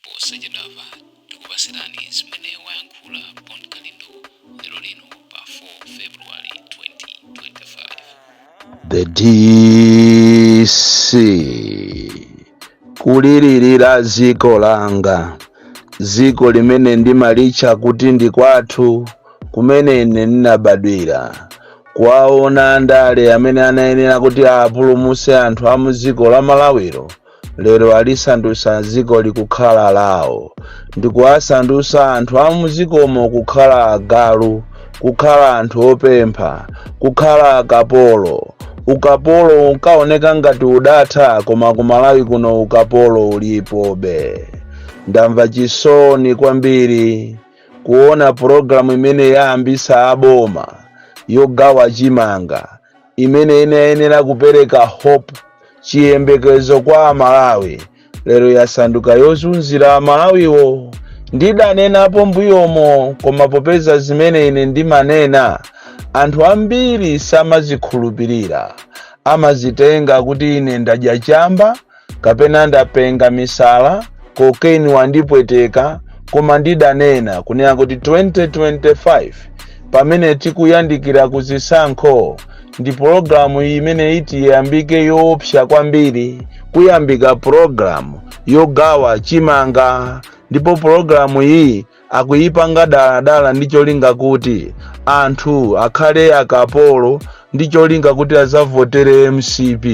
posachedwapa tikupatsirani zimene wayankhula Bon Kalindo lero lino pa 4 february 2025 The DC kulilirira dziko langa, dziko limene ndimalitcha kuti ndi kwathu, kumene ine ndinabadwira. Kuwaona andale amene anayenera kuti apulumutse anthu a mu dziko la Malawiro lero alisandutsa dziko likukhala lawo ndi kuwasandutsa anthu a mudzikomo kukhala agalu kukhala anthu opempha kukhala akapolo ukapolo unkaoneka ngati udatha koma ku Malawi kuno ukapolo ulipobe ndamva chisoni kwambiri kuona pulogalamu imene yayambisa aboma yogawa chimanga imene inayenera kupereka hope chiyembekezo kwa amalawi lero yasanduka yozunzira amalawiwo ndidanenapo mbuyomo koma popeza zimene ine ndimanena anthu ambiri samazikhulupirira amazitenga kuti ine ndadya chamba kapena ndapenga misala cocaine wandipweteka koma ndidanena kunena kuti 2025 pamene tikuyandikira ku zisankho ndi pologalamu imene iti iyambike yoopsa kwambiri kuyambika pologalamu yogawa chimanga ndipo pologalamu iyi akuyipanga daladala ndi cholinga kuti anthu akhale akapolo ndi cholinga kuti adzavotere mcp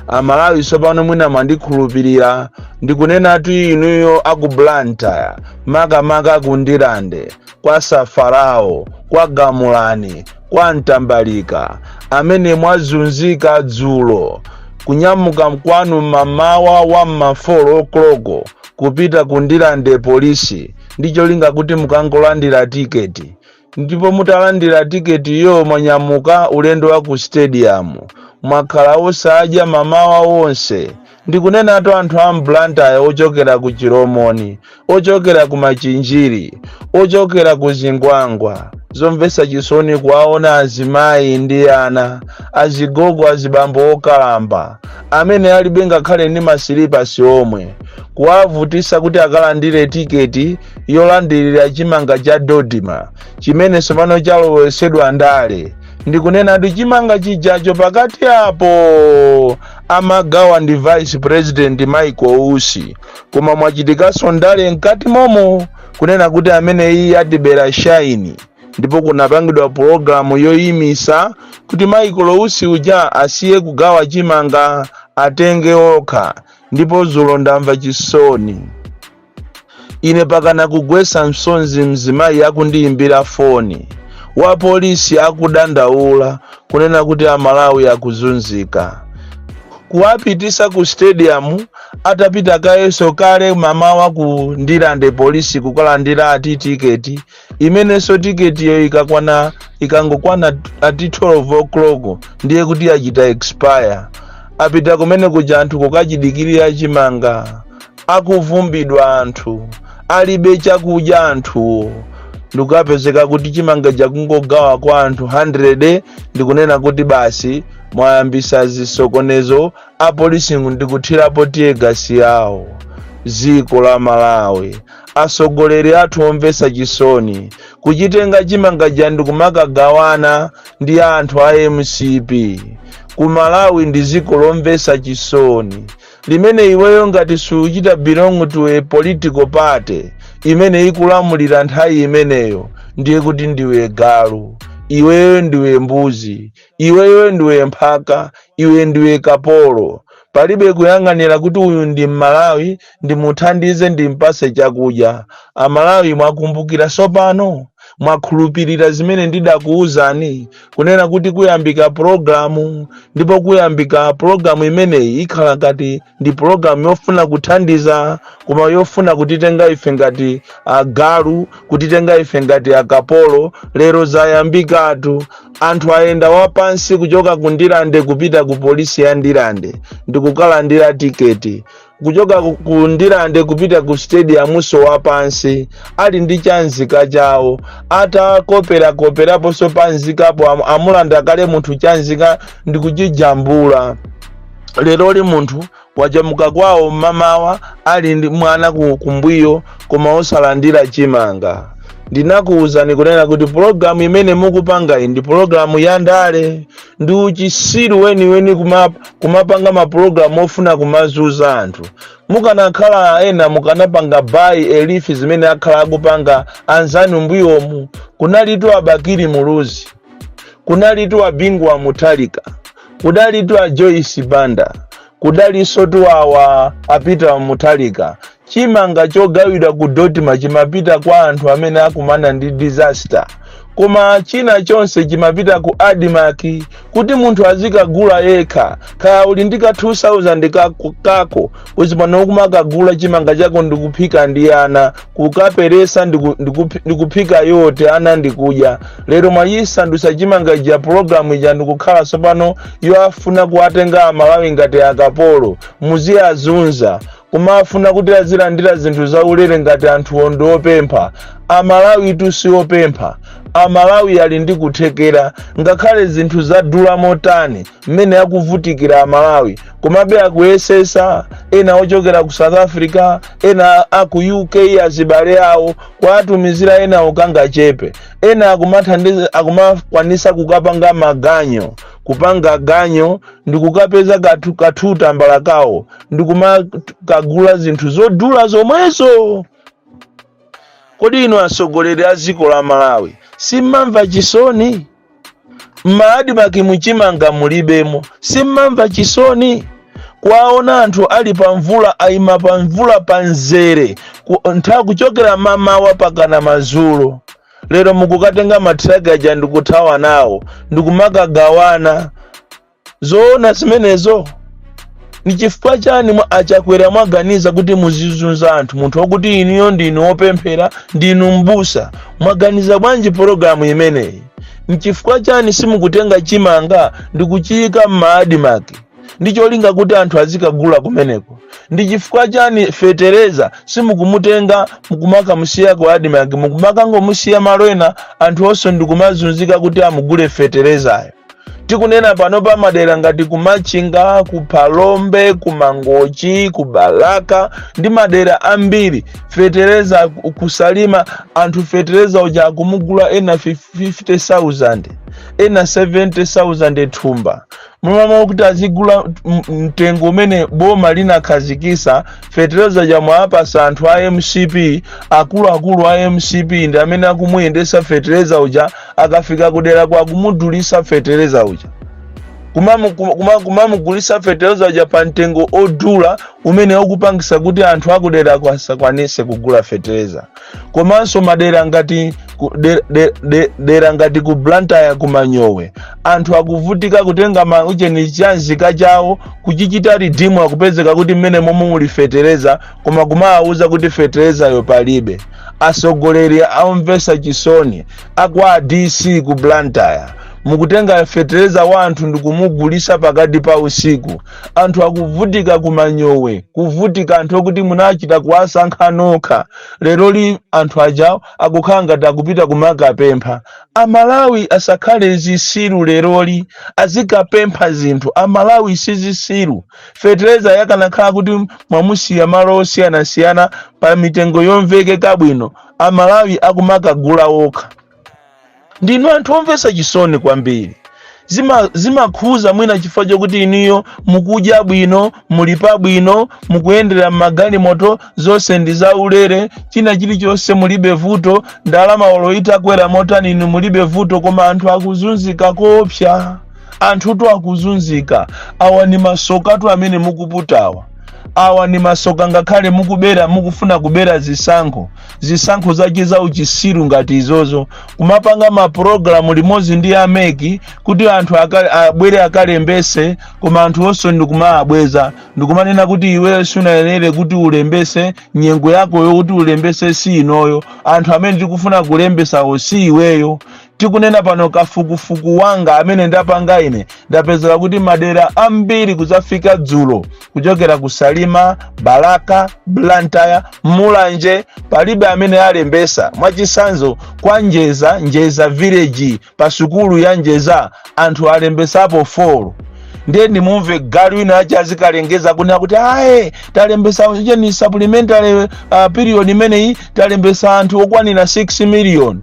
amalawi tsopano mwina mwandikhulupirira ndikunenatu inuyo a ku Blantyre makamaka ku Ndirande kwa safarao kwa gamulani kwa mtambalika amene mwazunzika dzulo kunyamuka kwanu mamawa wa mmafolo okoloko kupita ku Ndirande polisi ndi cholinga kuti mukakalandire tiketi ndipo mutalandira tiketiyo mwanyamuka ulendo wa ku stadium mwakhala osadya mamawa wonse ndikunenatu anthu a mblantyre ochokera ku chilomoni ochokera ku machinjiri ochokera ku zingwangwa zomvetsa chisoni kuwaona azimayi ndi ana azigogo azibambo okalamba amene alibe ngakhale ndi masilipasi omwe kuwavutisa kuti akalandire tiketi yolandirira chimanga cha DoDMA chimene tsopano chalowetsedwa ndale ndikunenatu chimanga chijacho pakati apo amagawa ndi vice president michael usi koma mwachitikanso ndale mkati momo kunena kuti amene iye atibera shaini ndipo kunapangidwa pulogalamu yoyimisa kuti michael usi uja asiye kugawa chimanga atenge okha ndipo zulo ndamva chisoni ine pakana kugwesa msonzi mzimayi akundiyimbira foni wa polisi akudandaula kunena kuti amalawi akuzunzika kuwapitisa ku stadium atapita kayenso kale mamawa ku ndirande polisi kukalandira ati tiketi imenenso tiketiyo ikakwana ikangokwana ati 12 o'clock ndiye kuti yachita expire apita kumene kuja anthu kukachidikirira chimanga akuvumbidwa anthu alibe chakudya anthuwo ndikukapezeka kuti chimangacho akungogawa kwa anthu 100 ndikunena kuti basi mwayambisa zisokonezo apolisi ndikuthirapo tear gas yawo dziko la malawi atsogoleri athu omvetsa chisoni kuchitenga chimanga chija ndikumakagawana ndi anthu a mcp ku malawi ndi dziko lomvetsa chisoni limene iweyo ngati suchita belong to a political party imene ikulamulira nthawi imeneyo ndiye kuti ndiwe galu iweyo ndiwe mbuzi Iweyo ndiwe mphaka, iwe ndiwe kapolo. Palibe kuyang'anira kuti uyu ndi m'Malawi ndimuthandize ndimpase chakudya. A Malawi mwakumbukira tsopano? Mwakhulupilira zimene ndidakuuzani kunena kuti kuyambika pulogalamu ndipo kuyambika pulogalamu imeneyi ikhala ngati ndi pulogalamu yofuna kuthandiza koma yofuna kutitenga ife ngati agalu kutitenga ife ngati akapolo lero zayambikatu anthu ayenda wapansi kuchoka ku ndirande kupita ku polisi ya ndirande ndikukalandira tiketi kuchoka ku- ku ndirande kupita ku stadiumunso wapansi ali ndi chanzika chawo atakoperakoperaponso panzikapo am- amulanda kale munthu chanzika ndikuchijambula leroli munthu wachamuka kwawo mmamawa ali ndi mwana ku- kumbuyo koma osalandira chimanga ndinakuwuzani kunena kuti pologalamu imene mukupangayi ndi pologalamu ya ndale ndi uchisiru weniweni kuma- kumapanga mapulogalamu ofuna kumazunza anthu mukanakhala ena mukanapanga bayi elifi zimene akhala akupanga anzanu mbuyomu kunalitu a bakili muluzi kunalitu a bingu wa mutharika kudalitu a joyce banda kudalinsotu awa a peter mutharika chimanga chogawidwa ku dodma chimapita kwa anthu amene akumana ndi disaster koma china chonse chimapita ku admarc kuti munthu azikagula yekha kaya uli ndi ka 2000 kako, kako uzipano kumakagula chimanga chako ndikuphika ndi ana kukaperesa ndiku- ndikupi- ndikuphika yote ana ndikudya lero mwayisandusa chimanga ija pulogalamu ija ndikukhala tsopano yofuna kuwatenga amalawi ngati akapolo muziwazunza kumafuna kuti azilandira zinthu zaulere ngati anthu ondi opempha amalawitu si opempha amalawi ali ndi kuthekera ngakhale zinthu zadula motani mmene akuvutikira amalawi komabe akuyesesa ena ochokera ku south africa ena aku uk azibale awo kuwatumizira ena okangachepe ena akumathandiza akumakwanisa kukapanga maganyo kupanga ganyo ndi kukapeza katambala kawo ndi kumakagula zinthu zodula zomwezo kodi inu atsogoleri a dziko la malawi simmamva chisoni m'maadimaki muchimanga mulibemo simmamva chisoni kuwaona anthu ali pa mvula ayima pa mvula pa mzere ku- ntha kuchokera mamawa mpakana madzulo lero mukukatenga mathiraki aja ndikuthawa nawo ndikumakagawana zoona zimenezo ni chifukwa chani a chakwera mwaganiza kuti muzizunza anthu munthu okuti inuyo ndinu wopemphera ndinu mbusa mwaganiza bwanji pologalamu imeneyi nchifukwa chani simukutenga chimanga ndikuchiyika m'maadimaki ndi cholinga kuti anthu azikagula kumeneko ndi chifukwa chani fetereza simukumutenga n'kumakamusiya ku adimaki mukumakangomusiya malo ena anthu onse ndikumazunzika kuti amugule feterezayo tikunena pano pa madera ngati ku machinga ku phalombe ku mangochi ku balaka ndi madera ambiri fetereza kusalima anthu fetereza uja akumugula ena 50000 ena 70000 thumba m'malo moti azigula m- mtengo umene boma linakhazikisa fetereza uja mwaapasa anthu a mcp akuluakulu a mcp ndi amene akumuyendesa fetereza uja akafika kuderako akumudulisa fetereza uja kumamu- kuma- kuma- kumamugulisa fetereza uja pa mtengo odula umene ukupangisa kuti anthu akudera ko asakwanise kugula fetereza komanso madera ngati ku- de- de- de- dera ngati ku blantyre ku manyowe anthu akuvutika kutenga mauja ni chanzika chawo kuchichita ridimu akupezeka kuti mmenemo mwe muli fetereza koma kumawawuza kuti feterezayo palibe asogoleri aumvesa chisoni a kwa dc ku blantyre mukutenga fetereza wa anthu ndikumugulisa pakati pa usiku anthu akuvutika kumanyowe kuvutika anthu okuti munachita kuwasankha nokha leroli anthu ajawo akukhala ngati akupita kumakapempha amalawi asakhale zisiru leroli azikapempha zinthu amalawi sizisiru fetereza yakanakhala kuti mwamusiya malo osiyanasiyana pa mitengo yomvekeka bwino amalawi akumakagula okha ndinu anthu omvetsa chisoni kwambiri Zimakhuza mwina chifukwa chokuti inuyo mukudya bwino muli pabwino mukuyendera m'magalimoto zonse ndi zaulere china chilichonse mulibe vuto ndalama olo itakwera motani inu mulibe vuto koma anthu akuzunzika koopsa anthutu akuzunzika awa ndi masokatu amene mukuputawa awa ndi masoka ngakhale mukubera mukufuna kubera zisankho zisankho zake za uchisiru ngati izozo kumapanga mapulogalamu limodzi ndi a MEC kuti anthu abwere akalembese koma anthu onse ndikumaabweza ndikumanena kuti iweyo sunayenere kuti ulembese nyengo yako yokuti ulembese si inoyo anthu amene tikufuna kulembesawo si iweyo Tikunena pano kafukufuku wanga amene ndapanga ine ndapezera kuti madera ambiri kuzafika dzulo kuchokera ku Salima, Balaka, Blantyre, Mulanje palibe amene alembesa. Mwachisanzo kwa Njeza, Njeza village pa sukulu ya Njeza anthu alembesapo 4 ndiye ndimumve galu winawake azikalengeza kunena kuti aye talembesa ujeni supplementary uh, period imeneyi talembesa anthu okwanira 6 million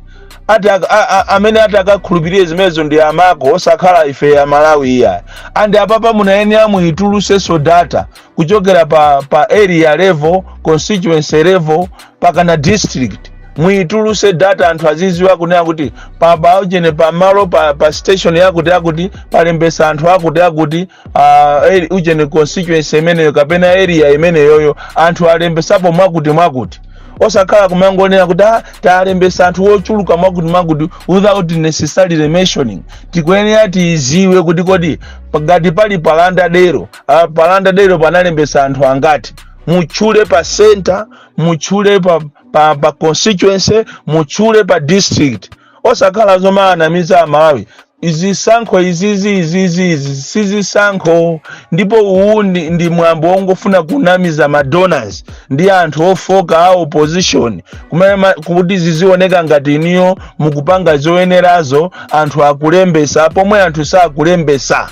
ati ak- a- a- amene ati akakhulupirire zimenezo ndi amako osakhala ifeyo Amalawi iyayi and apapa munayenera muitulusenso data kuchokera pa, pa area level constituency level mpakana district muituluse data anthu aziziwa kunena kuti pa, pa ujeni pa malo pa, pa station yakuti yakuti palembesa anthu akuti akuti ah, eri- ujeni constituency imeneyo kapena area imeneyoyo anthu alembesapo mwakuti mwakuti osakhala kumangonena kuti "Ah, talembesa anthu ochuluka mwakuti mwakuti without necessarily mentioning tikuyenera tiziwe kuti kodi ngati pali pa Lundadero ah, pa Lundadero panalembesa anthu angati mutchule pa center mutchule pa, pa, pa constituency mutchule pa district osakhala zomaanamiza amalawi Zisankho izizi izizi izi si zisankho, ndipo uwu ndi, ndi mwambo wongofuna kunamiza ma donors ndi anthu ofoka a opposition kumene ma- kuti zizioneka ngati inuyo mukupanga zoyenerazo anthu akulembesa pomwe anthu sakulembesa.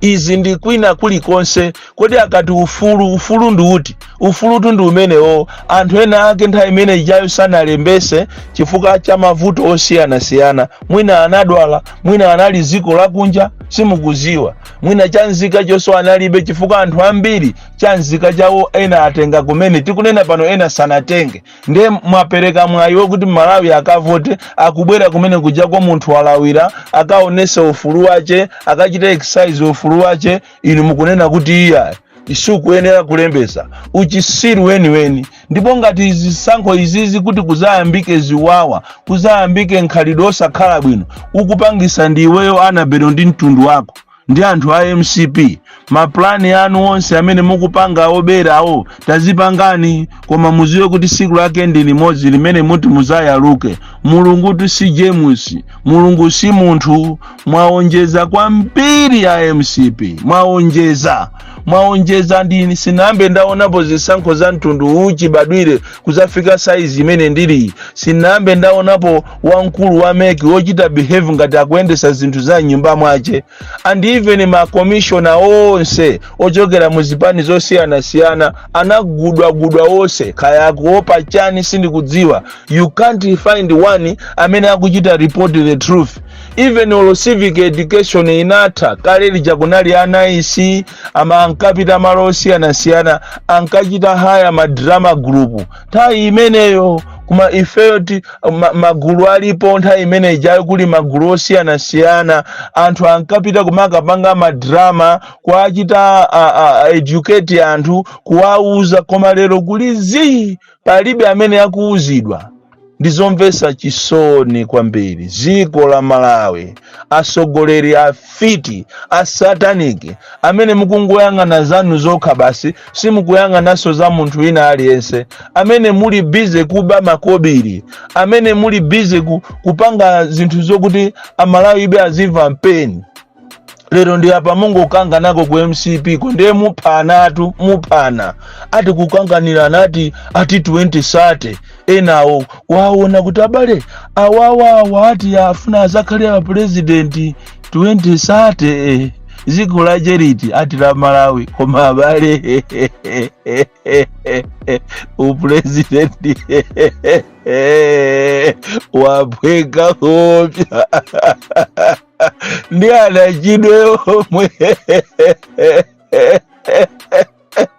izi ndi kwina kulikonse kodi akati ufulu ufulu ndi uti ufulutu ndi umenewo anthu ena ake nthawi imene ijayo sanalembese chifukwa cha mavuto osiyanasiyana mwina anadwala mwina anali dziko lakunja simukuziwa mwina chanzika chonso analibe chifukwa anthu ambiri chanzika chawo ena atenga kumene tikunena pano ena sanatenge ndiye mwapereka mwayi wokuti malawi akavote akubwera kumene kuja kwa munthu walawira akaonese ufulu wache akachite exercise ufulu wache inu mukunena kuti iyayi sukuyenera kulembesa uchisiru weniweni ndipo ngati zisankho izizi kuti kuzayambike ziwawa kuzayambike nkhalidwe osakhala bwino ukupangisa ndi iweyo annabel ndi mtundu wako ndi anthu a mcp mapulani anu onse amene mukupanga oberawo tazipangani koma muziwe kuti siku lake ndi limodzi limene muti muzayaluke mulungutu si james mulungu si munthu mwaonjeza kwambiri a mcp mwaonjeza mwaonjeza ndi ine sinambe ndaonapo zisankho za mtundu uwu chibadwire kuzafika saizi imene ndili sinambe ndaonapo wamkulu wa mec wochita behave ngati akuyendesa zinthu za mnyumba mwache and even makomishona onse ochokera mu zipani zosiyanasiyana anagudwagudwa onse kaya akuopa chani sindikudziwa you can't find one amene akuchita report the truth even olo civic education inatha kale lija kunali a nice ama- ankapita malo osiyanasiyana ankachita hire madrama group nthawi imeneyo koma ifeyo ti ma- magulu alipo nthawi imene ijayo kuli magulu osiyanasiyana anthu ankapita kumakapanga madrama kuwachita a- a- a- educate anthu kuwauza koma lero kuli zii palibe amene akuuzidwa ndizomvetsa chisoni kwambiri dziko la malawi atsogoleri afiti a satanic amene mukungoyang'ana zanu zokha basi simukuyang'ananso za munthu wina aliyense amene muli bize kuba makobiri amene muli bize ku, kupanga zinthu zokuti amalawi ibe azimva pain lero ndi apa mungokanganako ku mcp ko ndiye muphanatu muphana ati kukanganirana ati ati 2030 enawo waona kuti abale awawawa ati afuna azakhale apurezidenti 2030 eh, dziko lache liti ati la malawi koma abale upurezidenti waphweka koopsya ndi anachidwe omwe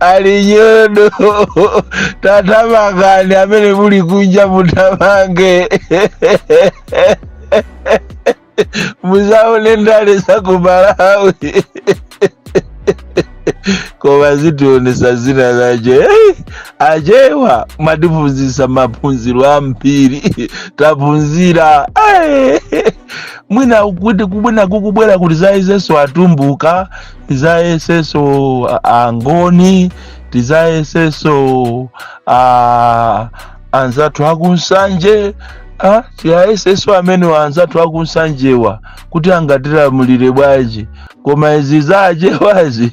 ali nyodoo tatamangani amene muli kunja mutamange muzaone ndale za ku malawi koma zitionesa zina zake hey, achewa mwatiphunzisa maphunziro ambiri taphunzira hey. mwina kuti kubwina kukubwera kuti tizayesenso atumbuka tizayesenso a- angoni tizayesenso a- anzathu akunsanje ah, tiwayesenso amene anzathu akunsanjewa kuti angatilamulire bwanji koma izi zachewazi